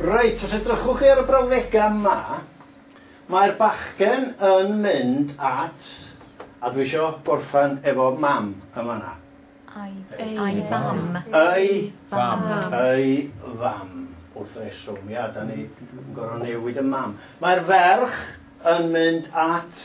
Reit, os edrychwch chi ar y brawddegau yma, mae'r bachgen yn mynd at, a dwi isio gorffan efo mam yn fanna. Ei fam. Ei fam. Ei fam. Wrth reswm, ia, da ni yn gorfod newid y mam. Mae'r ferch yn mynd at...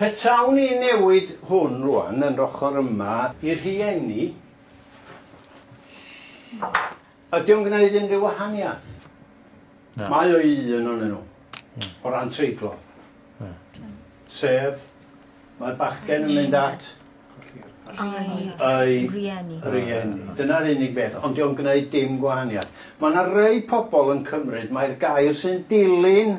Petawn i'n newid hwn rwan yn yr ochr yma i rhieni, ydy o'n gwneud unrhyw wahaniaeth? Na. Mae o un o'n nhw, hmm. o ran treiglo. Hmm. Sef, mae'r bachgen yn mynd at ei rieni. rieni. Dyna'r unig beth, ond diolch yn gwneud dim gwahaniaeth. Mae yna rei pobl yn cymryd mai'r gair sy'n dilyn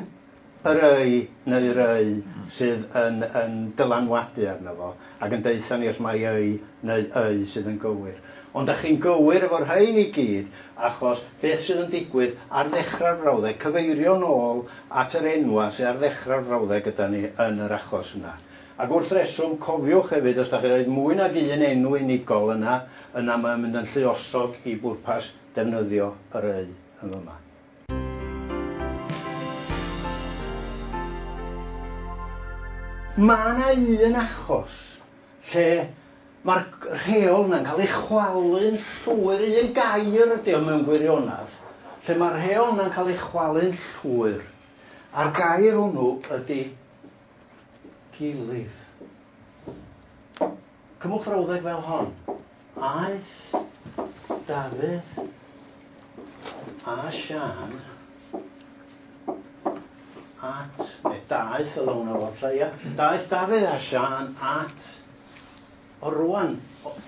y rhai neu rai sydd yn yn dylanwadu arno fo ac yn deutha ni os mai y neu y sydd yn gywir. Ond dach chi'n gywir efo rhein i gyd achos beth sydd yn digwydd ar ddechrau'r frawddeg, cyfeirio nôl at yr enwau sy ar ddechrau'r frawddeg gyda ni yn yr achos yna. Ac wrth reswm, cofiwch hefyd os dach chi'n rhoi mwy nag un enw unigol yna, yna mae'n mynd yn lluosog i bwrpas defnyddio yr y yn fyma. Mae yna un achos lle mae'r rheol yna'n cael ei chwalu'n llwyr, un gair ydy o mewn gwirionedd, lle mae'r rheol yna'n cael ei chwalu'n llwyr, a'r gair hwnnw ydy gilydd. Cymwch frawddeg fel hon. Aeth Dafydd a Siân at... Neu daeth o lawn o fod ia. Daeth Dafydd a Siân at o rwan.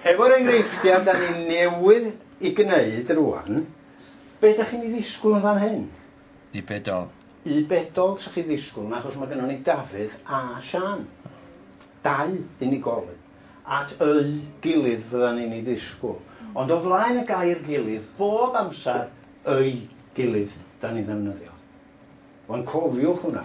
Efo'r enghreifftiau da ni newydd i gwneud rwan, be da chi'n ei ddisgwyl yn fan hyn? Y bedol. Y bedol sa chi ddisgwyl, achos mae gennym ni Dafydd a Siân. Dau unigolyn. at eu gilydd fyddan ni'n ei ddisgwyl. Ond o flaen y gair gilydd, bob amser eu gilydd 'dan ni'n ddefnyddio. Wan cofiwch hwnna.